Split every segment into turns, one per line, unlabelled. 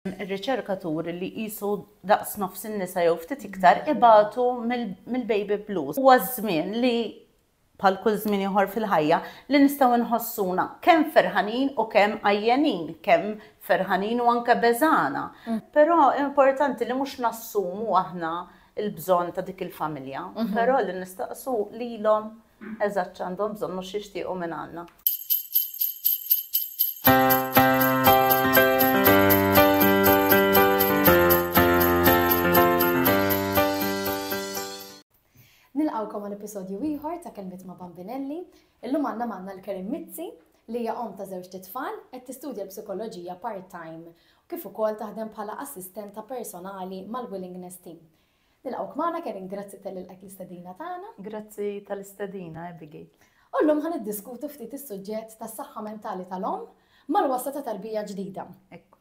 Ir-riċerka turi li qisu daqs nofs in-nisa jew ftit iktar ibatu mill-baby blues. Huwa ż-żmien li, bħal kull żmien ieħor fil-ħajja, li nistgħu nħossuna kemm ferħanin u kemm għajjenin, kemm ferħanin u anke beżgħana. Però importanti li mhux nassumu aħna l-bżonn ta' dik il-familja, però li nistaqsu lilhom Eżatt x'għandhom bżonn u x'jixtiequ mingħandna. Nilqawkom għal episodju ieħor ta' kelmiet ma' Bambinelli. Illum għandna manna l-Kerim Mizzi li hija om ta' żewġ titfal qed tistudja l-psikoloġija part-time kif ukoll taħdem bħala assistenta personali mal-Willingness Team. Nilqgħuk magħna Kevin, grazzi tal lilqek l-istedina tagħna. Grazzi tal-istedina Abigail. U llum ħa niddiskutu ftit is-suġġett tas-saħħa mentali tal-omm mal-wasa ta' tarbija ġdida. Ekku.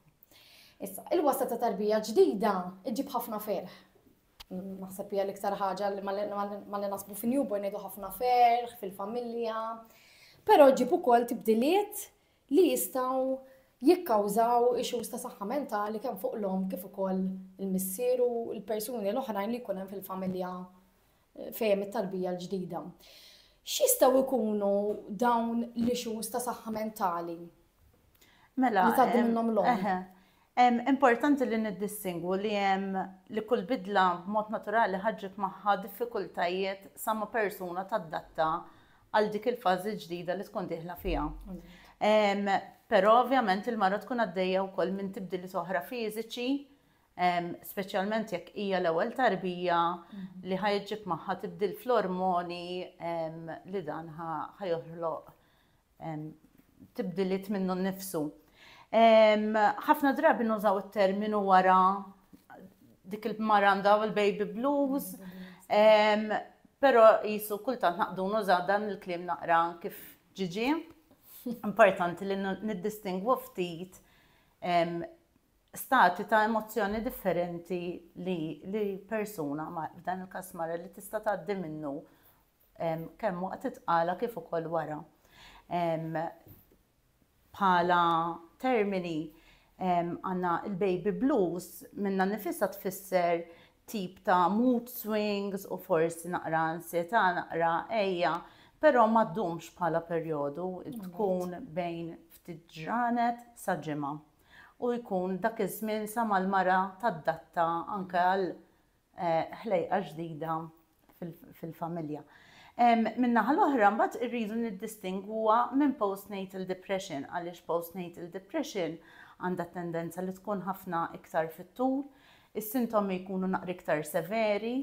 Issa, il-wasa ta' tarbija ġdida iġib ħafna ferħ. Naħseb hija l-iktar ħaġa li ma li nasbu fin-newborn ngħidu ħafna ferħ fil-familja. Però ġib ukoll tibdiliet li jistgħu jikkawżaw issues ta' saħħa mentali kemm fuq l-omm kif ukoll il-missier u l-persuni l-oħrajn li jkun hemm fil-familja fejn hemm it-tarbija l-ġdida. X'jistgħu jkunu dawn l-issues ta' saħħa mentali? Mela, li tgħaddi minnhom l-omm. Importanti li niddistingwu li hemm li kull bidla b'mod naturali ħa ġġib magħha diffikultajiet sa ma persuna tadatta għal dik il-fażi l-ġdida li tkun dieħla fiha. Però ovvjament il-mara tkun għaddejja wkoll minn tibdiliet oħra fiżiċi, speċjalment jekk hija l-ewwel tarbija li ħa ġġib magħha tibdil fl-ormoni li dan ħa joħloq tibdiliet minnu nnifsu. Ħafna drabi nużaw it-terminu wara dik il-mara għandha l-baby blues, però jisu kultant naqdu nużaw dan il-kliem naqra kif ġiġi. Importanti li niddistingwu ftit stati ta' emozzjoni differenti li persuna, f'dan il-kas mara li tista' tgħaddi minnu kemm waqt it-tqala kif ukoll wara. Bħala termini għandna l-baby blues minnha nifisha tfisser tip ta' mood swings u forsi naqra ansjetà, naqra ejja, però ma ddumx bħala perjodu, tkun bejn ftit ġranet sa ġimgħa. U jkun dak iż-żmien sa mal-mara tadatta anke għal ħlejqa ġdida fil-familja. Min-naħa l-oħra mbagħad irridu niddistingwuha minn postnatal depression għaliex postnatal depression għandha tendenza li tkun ħafna iktar fit-tul, is-sintomi jkunu naqra iktar severi,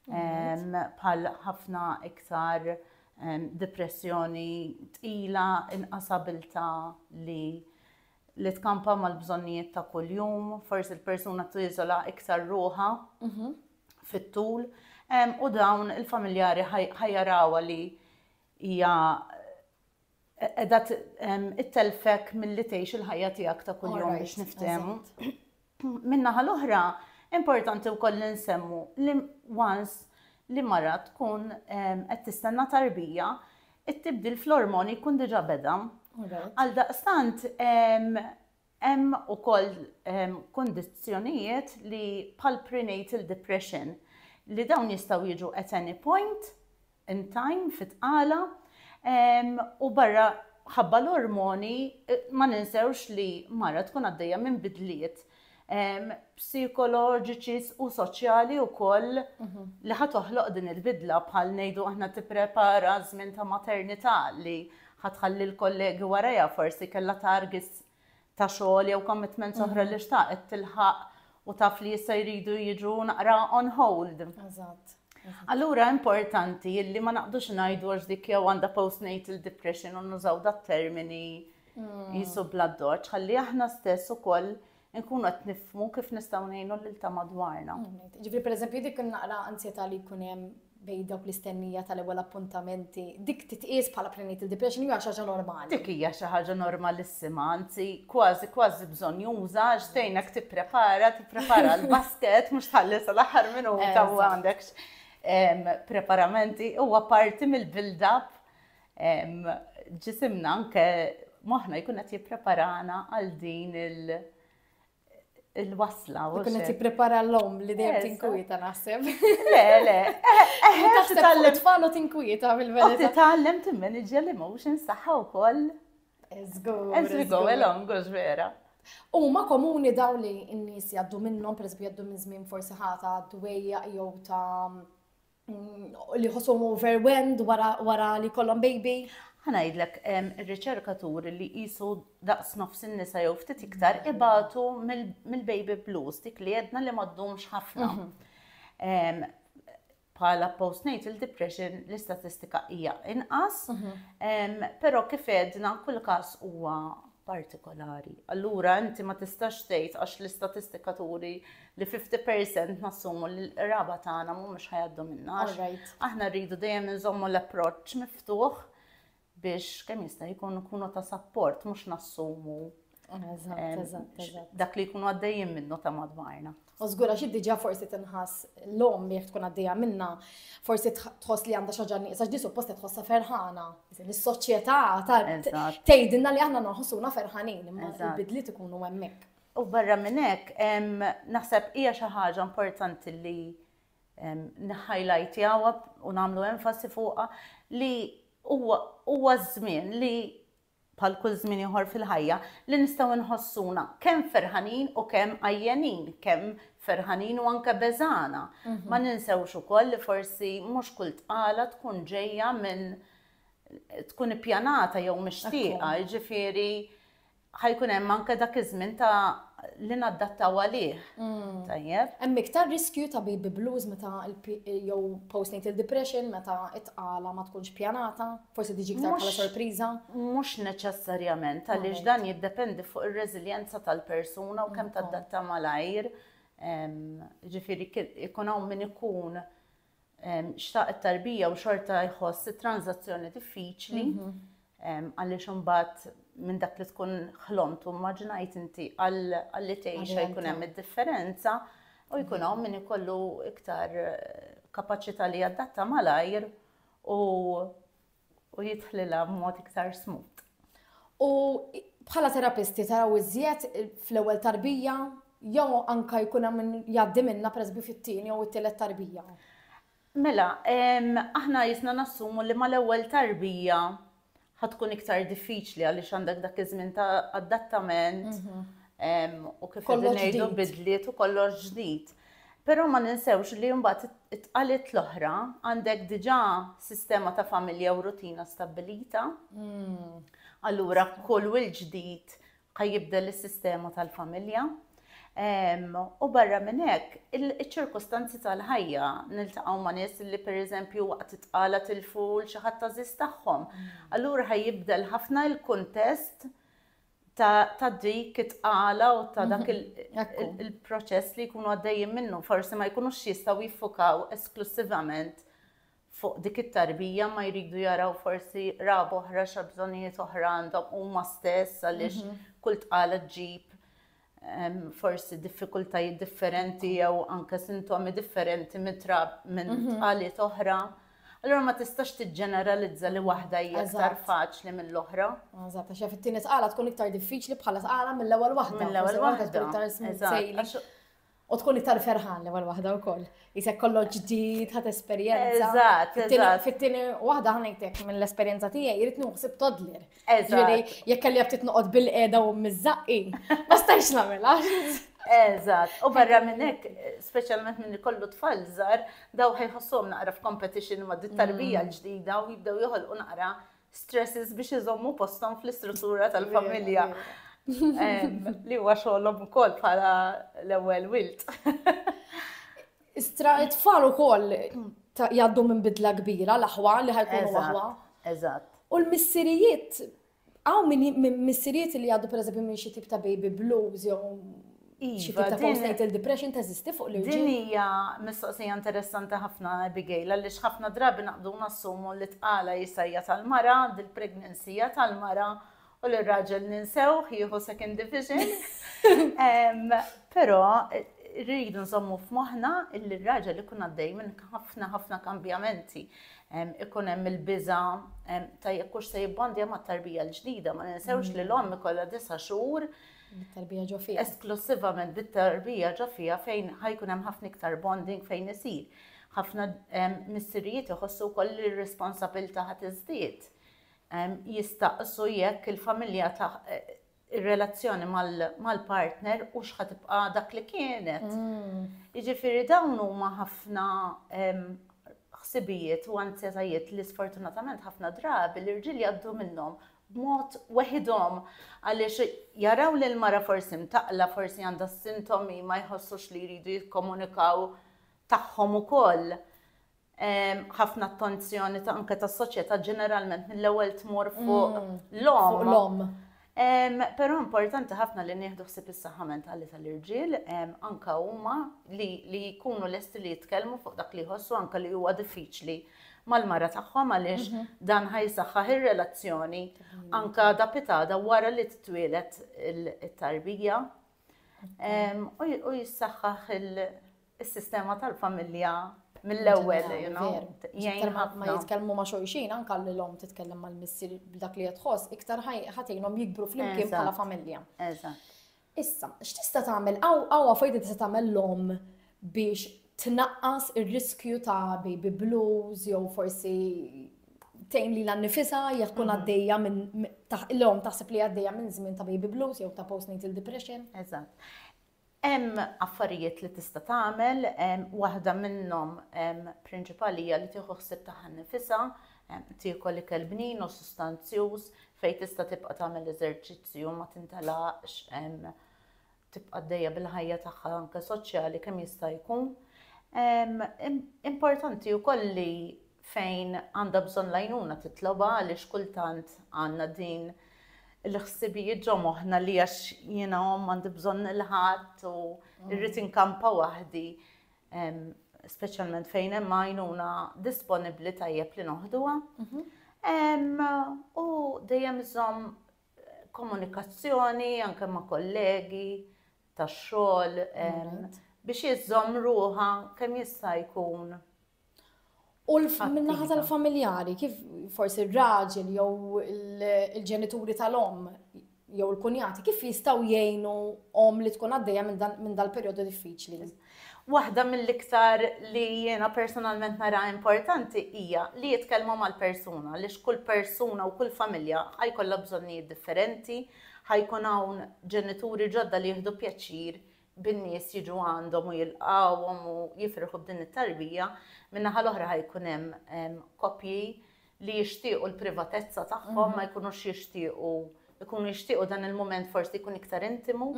bħal ħafna iktar depressjoni tqila, inqas abilta li li tkampa mal-bżonnijiet ta' kuljum, forsi l-persuna tiżola iktar ruħa mhm. fit-tul, u dawn il-familjari ħajjarawa li hija edha it-telfek mill-li tgħix il-ħajja tiegħek ta' kuljum biex niftehmu. Min-naħa l-oħra, importanti wkoll li nsemmu li once li mara tkun qed tistenna tarbija, it-tibdil fl-ormoni jkun diġà beda. Għaldaqstant, hemm ukoll kundizzjonijiet li bħall-prenatal depression li dawn jistgħu jiġu at any point in time, fit-tqala, u barra ħabba l-ormoni ma ninsewx li mara tkun għaddejja minn bidliet psikoloġiċi u soċjali wkoll li ħa toħloq din il-bidla bħal ngħidu aħna tipprepara żmien ta' maternità li ħa tħalli l-kollegi warajha forsi kellha targets ta' xogħol jew commitments oħra li xtaqet tilħaq u taf li jista' jridu jiġu naqra on hold. Eżatt. Allura importanti illi ma naqdux ngħidu għax dik jew għandha postnatal depression u nużaw dat termini mm. jisu bla doċ, ħalli aħna stess ukoll nkunu qed nifmu kif nistgħu ngħinu lil ta' madwarna. Mm, Ġifri pereżempju dik naqra ansjetà li jkun hemm bejn dawk l-istennija tal-ewwel appuntamenti, dik titqies bħala prenatal depression jew xi ħaġa normali? Dik hija xi ħaġa normalissima, anzi kważi kważi bżonjuża għax tgħinek tipprepara, tipprepara l-basket mhux tħalli sal-aħħar minuta u għandekx preparamenti huwa parti mill-build-up ġisimna anke moħħna jkun qed jippreparana għal din il- il-wasla. U kien qed jipprepara l-om li dejjem tinkwieta naħseb. Le, le. Taħt titgħallem tfalu tinkwieta mill-verità. Titgħallem timmanage l-emotions tagħha wkoll. Eżgur. Eżgur, go along, għax vera. U ma komuni daw li n-nies jaddu minnhom, per jaddu minn żmien forsi ħata dwejja jew ta' li ħossom overwhelmed wara, wara li kollhom baby. Ħanajdlek ir-riċerka tur li qisu daqs nofs in-nisa jew ftit iktar ibatu mill-baby blues dik li jedna li ma ddumx ħafna. Mhm. Bħala postnatal depression l-istatistika hija inqas, mhm. però kif edna kull każ huwa partikolari. Allura inti ma tistax tgħid għax l-istatistika turi li 50% nassumu li l-qraba tagħna mhumiex ħajaddu minna. Aħna rridu dejjem inżommu l-approċċ miftuħ biex kemm jista' jkun ikunu ta' sapport mhux nassumu dak li jkunu għaddejjin minnu ta' madwarna. U żgur għax hi diġà forsi tinħass l-omm li jekk tkun għaddejja minnha, forsi tħoss li għandha xi ħaġa nieqsa x'di suppost qed tħossha ferħana. Is-soċjetà tgħidilna li aħna noħossuna ferħanin, imma l-bidliet ikunu hemmhekk. U barra minn hekk, naħseb hija xi ħaġa importanti li nħajlajtjaw u nagħmlu enfasi fuqha li huwa żmien li bħal kull żmien ieħor fil-ħajja, li nistgħu nħossuna kemm ferħanin u kemm għajjenin, kemm ferħanin u anke beżgħana. Ma ninsewx ukoll li forsi mhux kull tqala tkun ġejja minn tkun ippjanata jew mixtieqa, jiġifieri ħajkun hemm anke dak iż-żmien ta' li naddattaw għalih. Tajjeb? Hemm iktar riskju ta' baby blues meta jew postnatal depression meta t-tqala ma tkunx pjanata? Forsi tiġi iktar bħala sorpriża? Mhux neċessarjament, għaliex dan jiddependi fuq ir-reżiljenza tal-persuna u kemm tadatta malajr. Ġifieri ikun hawn min ikun xtaq it-tarbija u xorta jħoss it-tranzazzjoni diffiċli mhm. għaliex imbagħad minn dak li tkun ħlomt u maġnajt inti għalli tgħix jkun hemm id-differenza u jkun hawn min ikollu iktar eh, kapaċità li jadatta malajr u u jidħlilha b'mod iktar smut. U bħala terapisti taraw iżjed fl-ewwel tarbija jew anka jkun hemm jgħaddi minna presbi fit-tieni jew it-tielet tarbija? Mela, aħna jisna nassumu li mal-ewwel tarbija ħa tkun iktar diffiċli għaliex għandek dak iż-żmien ta' adattament mhm. u kif ngħidu bidliet u kollox ġdid. Però ma ninsewx li mbagħad it-tqalit l-oħra għandek diġà sistema ta' familja u rutina stabbilita. Mm. Allura kull wil ġdid Ħa jibdel is-sistema tal-familja. U barra minn hekk, iċ-ċirkustanzi tal-ħajja, niltaqgħu ma' nies li pereżempju waqt it-tqala tilfu 'l xi ħadd għażiż tagħhom. Allura ħa jibdel ħafna l-kuntest ta' dik it-tqala u ta' dak il-proċess li jkunu għaddejjin minnu. Forsi ma jkunux jistgħu jiffukaw esklussivament fuq dik it-tarbija ma jridu jaraw forsi qraba oħra xa bżonnijiet oħra għandhom huma stess għaliex mhm. kull tqala ġġib forsi diffikultajiet differenti jew anke sintomi differenti minn mhm. tqaliet oħra. Allora ma tistax tiġġeneralizza li waħda hija aktar faċli mill-oħra. Eżatt, għax jaf it-tieni tqala tkun iktar diffiċli bħala tqala mill-ewwel waħda. Mill-ewwel waħda. U tkun iktar ferħan l-ewwel waħda wkoll. Isek kollox ġdid, ħadd esperjenza. Eżatt, eżatt. Fit-tieni waħda ħanejtek mill-esperjenza tiegħi jrid nuħsib toddler. Eżatt. Jekk kelli ftit noqgħod bil-qiegħda u miżaqqi, ma stajx nagħmilha. Eżatt, u barra minn hekk, speċjalment minn kollu tfal żgħar, daw ħajħossom naqra f'competition ma' dit-tarbija mm. l-ġdida u jibdew joħolqu naqra stresses biex iżommu posthom fl-istruttura tal-familja. Li huwa xogħolhom ukoll bħala l-ewwel wilt. Istra it-tfal ukoll jgħaddu minn bidla kbira l-aħwa li ħajkunu aħwa. Eżatt. U l-missirijiet, għaw minn missirijiet li jgħaddu pereżempju minn xi tip ta' baby blues jew Xi tip ta' postnatal depression teżisti fuq l-irġiel? Din hija mistoqsija interessanti ħafna Abigail għaliex ħafna drabi naqbdu nassumu li tqala jisa' hija tal-mara, dil-pregnancy hija tal-mara u li raġel ninsew jieħu second division. Però rridu nżommu f'moħħna li r-raġel ikun għaddej minn ħafna ħafna kambjamenti. Ikun hemm il-biża ta' jekk hux se jibbondja mat-tarbija l-ġdida, ma ninsewx li l-omm ikollha disa' xhur Bit-tarbija ġo fiha. Esklussivament bit-tarbija ġo fiha fejn ħa jkun hemm ħafna iktar bonding fejn isir. Ħafna missirijiet iħossu wkoll li r-responsabilità ħa tiżdied. Jistaqsu jekk il-familja ta' ir-relazzjoni mal-partner u x'ħa tibqa' dak li kienet. Mm. Jiġifieri dawn huma ħafna ħsibijiet u anzjetajiet li sfortunatament ħafna drabi l-irġiel jgħaddu minnhom b'mod weħidhom għaliex jaraw li l-mara forsi mtaqqla, forsi għandha s-sintomi, ma jħossux li jridu jikkomunikaw tagħhom ukoll. Ehm, ħafna attenzjoni ta' anke tas-soċjetà ġeneralment mill-ewwel tmur fuq mm, l-om. Però importanti ħafna li nieħdu ħsib is-saħħa mentali tal-irġiel, anka huma li jkunu lesti li jitkellmu fuq dak li jħossu anka li huwa diffiċli mal-mara tagħhom għaliex dan ħa jsaħħaħ ir-relazzjoni anka da pitada wara li titwielet it-tarbija u jissaħħaħ is-sistema tal-familja mill-ewwel, jgħin ma jitkellmu ma' xulxin, anka li l-om titkellem mal-missir b'dak li jitħoss, iktar ħatejnhom jikbru flimkien bħala familja. Eżatt. Issa, x'tista' tagħmel, hawn affarijiet li tista' tagħmel l-omm biex tnaqqas ir-riskju ta' baby blues jew forsi tgħin lilha nnifisha jekk tkun għaddejja minn l-omm taħseb li għaddejja minn żmien ta' baby blues jew ta' postnatal depression. Eżatt. Hemm affarijiet li tista' tagħmel, waħda minnhom prinċipali hija li tieħu ħsieb tagħha nnifisha, Tiekol ikel bnin u sustanzjuż fejn tista' tibqa' tagħmel eżerċizzju u ma tintelaqx, tibqa' għaddejja bil-ħajja tagħha anke soċjali kemm jista' jkun. Importanti wkoll li fejn għandha bżonn l-għajnuna titlobha għaliex kultant għandna din il-ħsibijiet ġo moħħna li għax jiena omm m'għandi bżonn il-ħadd u rrid inkampa waħdi. speċjalment fejn hemm għajnuna disponibbli tajjeb li noħduha. Mhm. U dejjem iżomm komunikazzjoni anke ma' kollegi tax xogħol biex jiżomm ruha kemm jista' jkun U min-naħa tal-familjari, kif forsi r-raġel jew il-ġenituri tal-om jew il-kunjati, kif jistaw jgħinu om li tkun għaddejja minn dal-periodu diffiċli? Waħda mill-iktar li jiena personalment nara importanti hija li jitkellmu mal-persuna, li x'kull persuna u kull familja ħajkollha bżonnijiet differenti, ħajkun hawn ġenituri ġodda li jieħdu pjaċir bin-nies jiġu għandhom u jilqgħuhom u jifirħu b'din it-tarbija, min-naħa l-oħra ħa jkun hemm koppji li jixtiequ l-privatezza tagħhom, ma jkunux jixtiequ jkunu jixtiequ dan il-mument forsi jkun iktar intimu.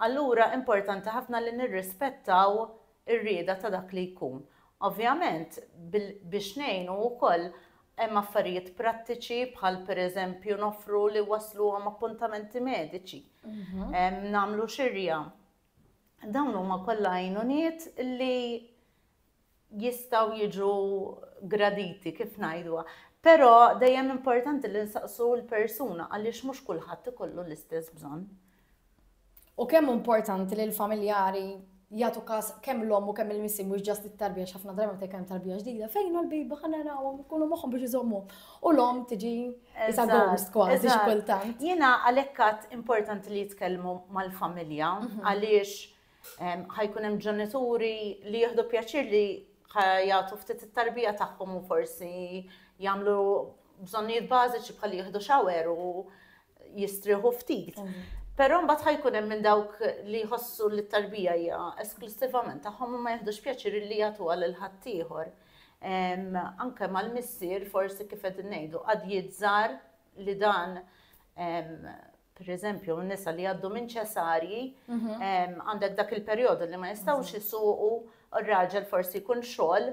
Allura importanti ħafna li nirrispettaw ir-rieda ta' dak li jkun. Ovvjament biex ngħinu wkoll hemm affarijiet prattiċi bħal pereżempju noffru li wassluhom appuntamenti mediċi, nagħmlu xirja. Dawn huma kollha għajnuniet li jistgħu jiġu graditi kif ngħidu. Però dejjem importanti li nsaqsu l-persuna għaliex mhux kulħadd ikollu l-istess bżonn. U kemm importanti li l-familjari jagħtu każ kemm l-omm u kemm il-missi mhux ġast it-tarbija x'ħafna drabi meta jkun tarbija ġdida, fejn hu l-biba ħa narawhom ikunu moħħhom biex iżommu. U l-omm tiġi isa ghost kważi xi kultant. Jiena għalhekk għad importanti li jitkellmu mal-familja mhm. għaliex ħajkun hemm ġenituri li jieħdu pjaċir li jagħtu ftit it-tarbija tagħhom u forsi jagħmlu bżonnijiet bażiċi bħal jieħdu xawer u jistrieħu ftit. Però mbagħad ħajkun hemm minn dawk li jħossu li t-tarbija hija esklusivament tagħhom u ma jihdux pjaċir li jagħtuha lil ħaddieħor. Anke mal-missier forsi kif qed ngħidu qad jizzar li dan per eżempju, nisa li għaddu minn ċesarji, mhm. għandek dak il-periodu li ma jistawx jisuqu, mhm. u r-raġel forsi jkun xogħol,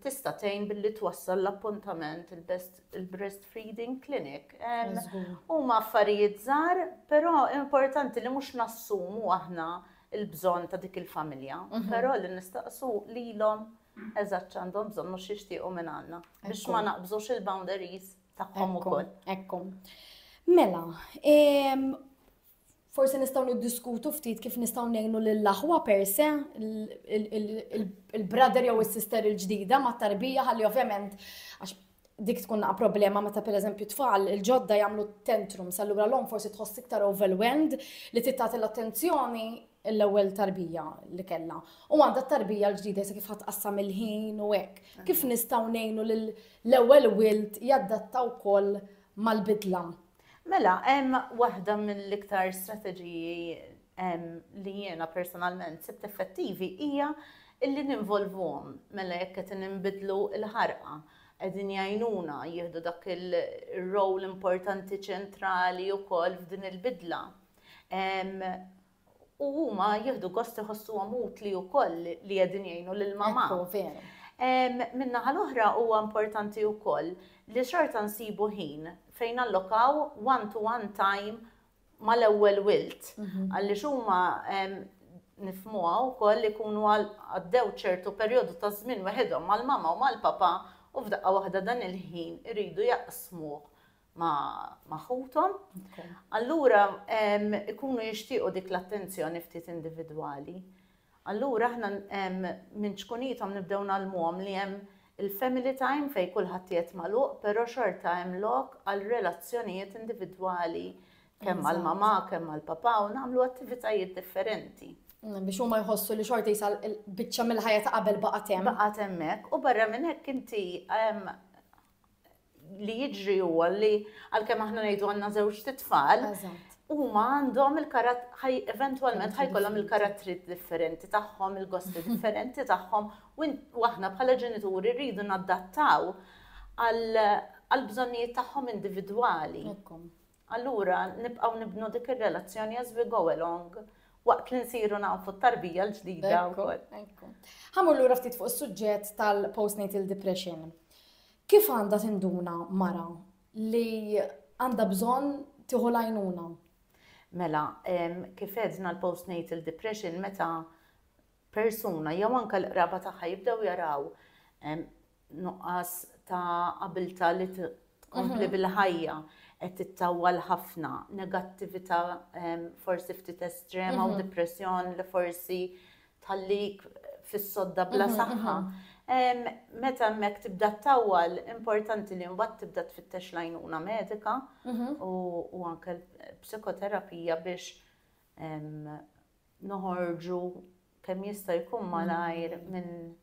Tista' tgħin billi twassal l-appuntament il-breastfeeding clinic. Huma affarijiet żgħar, però importanti li mhux nassumu aħna l-bżonn ta' dik il-familja, però li nistaqsu lilhom eżatt x'għandhom bżonn u x'jixtiequ minn għandna biex ma naqbżux il-boundaries tagħhom ukoll. Mela, Forsi nistgħu niddiskutu ftit kif nistgħu ngħinu lill-aħwa per se, il-brother jew is-sister il-ġdida mat-tarbija ħalli ovvjament għax dik tkun naqa problema meta per eżempju tfal il-ġodda jagħmlu tantrum sallura l-om forsi tħoss iktar overwhelmed li tittat l-attenzjoni l-ewwel tarbija li kellha. U għandha tarbija l-ġdida se kif ħatqassam il-ħin u hekk. Kif nistgħu ngħinu l-ewwel wilt jaddatta wkoll mal-bidla Mela, hemm waħda mill-iktar strateġiji li jiena personalment sibt effettivi hija li ninvolvuhom. Mela jekk qed inbidlu l-ħarqa, qegħdin jgħinuna jieħdu dak ir-role importanti ċentrali wkoll f'din il-bidla. U huma jieħdu gost iħossuhom utli wkoll li qegħdin jgħinu lil mamà. Ekku, veru. Min-naħa l-oħra huwa importanti wkoll li xorta nsibu ħin fejn nallokaw one to one time mal-ewwel wild. Għaliex huma nifhmuha wkoll li jkunu għaddew ċertu perjodu ta' żmien weħidhom mal-mamà u mal-papà u f'daqqa waħda dan il-ħin iridu jaqsmuh ma' ħuthom, allura ikunu jixtiequ dik l-attenzjoni ftit individwali. Allura aħna minn ċkunithom nibdew nagħlmuhom li hemm il-family time fejn kulħadd qiegħed magħluq, però xorta hemm lok għal relazzjonijiet individwali kemm mal-mama, kemm mal-papa u nagħmlu attivitajiet differenti. Mm, biex huma jħossu li xorta jisa biċċa mill-ħajja ta' qabel baqgħet hemm. Baqgħet hemmhekk u barra minn hekk inti li jiġri huwa li għalkemm aħna ngħidu għandna żewġ titfal, huma għandhom il-karat ħaj eventwalment ħajkollhom il-karattri differenti tagħhom, il-gosti differenti tagħhom, u aħna bħala ġenituri rridu nadattaw għal bżonnijiet tagħhom individwali. Allura nibqgħu nibnu dik ir-relazzjoni as we go along waqt li nsiru nafu t-tarbija l-ġdida wkoll. Ħa mmur lura ftit fuq is-suġġett tal-postnatal depression. Kif għandha tinduna mara li għandha bżonn tieħu l-għajnuna? Mela, kif edna l-postnatal depression meta persuna jew anke l-qraba tagħha jibdew jaraw nuqqas ta' abilta li tkompli mhm. bil-ħajja qed tittawwal ħafna, negattività forsi ftit estrema u mhm. depressjon li forsi tħallik fis-sodda bla mhm, saħħa. Mhm. Meta hemmhekk tibda tawwal, importanti li mbagħad tibda tfittex lajnuna medika mhm. u anke psikoterapija biex noħorġu kemm jista' jkun malajr minn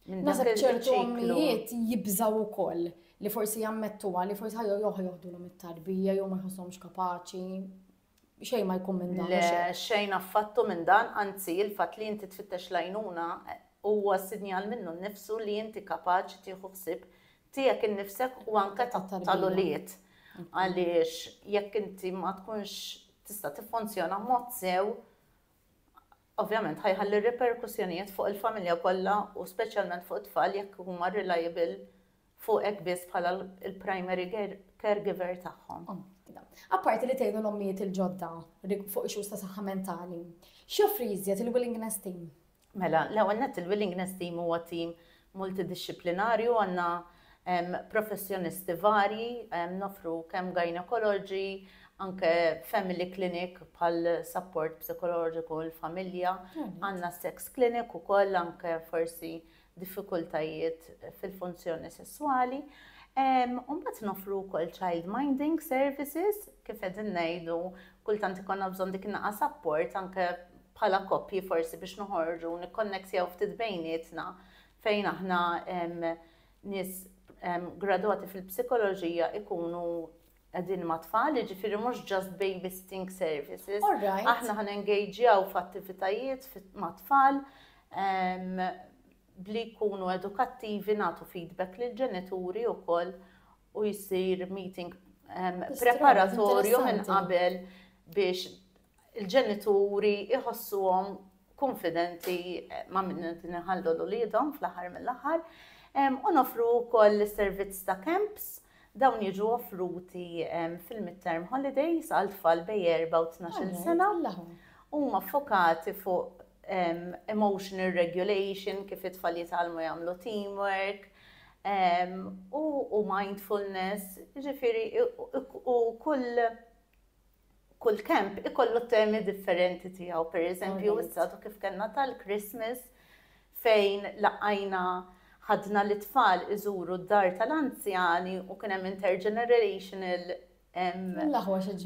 Nasab ċertu għammijiet jibżaw u koll li forsi jammettu għalli forsi ħajju joħu joħdu l mit-tarbija jew ma jħossomx kapaċi. Xejn ma jkun minn dan. Le, xejn affattu minn dan, anzi il-fatt li inti tfittex lajnuna huwa sinjal minnu nnifsu li inti kapaċi tieħu ħsieb tiegħek innifsek u anke tal-ulied. Għaliex jekk inti ma tkunx tista' tiffunzjona mod sew, ovvjament ħajħalli riperkussjonijiet fuq il-familja kollha u speċjalment fuq it-tfal jekk huma reliable fuqek biss bħala l-primary caregiver tagħhom. Oh, Apparti li tgħinu l-ommijiet il-ġodda fuq issues ta' saħħa mentali, x'joffri jiżjed il-willingness team? Mela, l-ewwel nett il-willingness team huwa team multidixxiplinarju għandna professjonisti varji, nofru kemm gynecology, anke family clinic bħal support psikoloġiku l-familja, hmm. għandna sex clinic ukoll anke forsi diffikultajiet fil-funzjoni sessuali. Umbat nofru kol child minding services, kif edin nejdu, kultant ikonna bżon dik naqa support, anke bħala koppji forsi biex noħorġu u nikkonnektjaw ftit bejnietna fejn aħna nies gradwati fil-psikoloġija ikunu qegħdin ma' tfal, jiġifieri mhux just babysitting services. Aħna ħan engagjaw f'attivitajiet ma' tfal bli jkunu edukattivi nagħtu feedback lil ġenituri wkoll u jsir meeting preparatorju minn qabel biex il-ġenituri jħossuhom kunfidenti ma' minn din iħallu l-uliedhom fl-aħħar mill-aħħar u nofru wkoll is-servizz ta' camps dawn jiġu offruti fil-midterm holidays għal tfal bej 4 u 12 sena huma ffokati fuq emotional regulation, kif it-tfal jitalmu jagħmlu teamwork, u mindfulness, ġifiri, u kull kull kemp ikollu temi differenti tiegħu. Per eżempju, issa kif kellna tal-Christmas fejn laqajna ħadna li tfal iżuru d-dar tal-anzjani u kien hemm intergenerational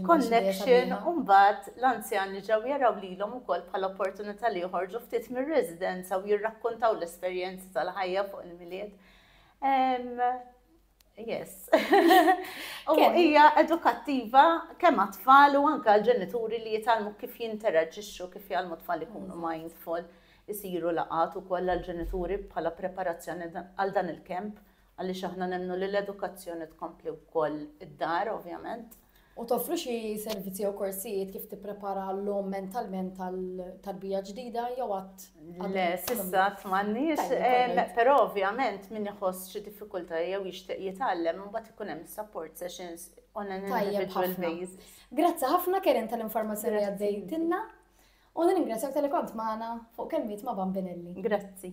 connection u mbagħad l-anzjani ġew jaraw lilhom ukoll bħala opportunità li joħorġu ftit mir-residenza u jirrakkontaw l-esperjenzi tal-ħajja fuq il-milied. Yes. U hija edukattiva kemm għat-tfal u anke l-ġenituri li jitalmu kif jinteraġixxu kif jgħalmu tfal ikunu mindful isiru laqat ukoll għall-ġenituri bħala preparazzjoni għal dan il-kemp għaliex aħna nemmnu li l-edukazzjoni tkompli wkoll id-dar ovvjament. U toffru xi servizzi jew korsijiet kif tipprepara l-lom mentalment tal-tarbija ġdida jew għat? Le, sissa tmannix, eh, però ovvjament min iħoss xi diffikulta jew jixtieq jitgħallem imbagħad ikun hemm support sessions on an individual basis. Grazzi ħafna Keren tal-informazzjoni li għaddejtinna u ningrazzjak tal-li kont magħna fuq kelmiet ma' Bambinelli. Grazzi.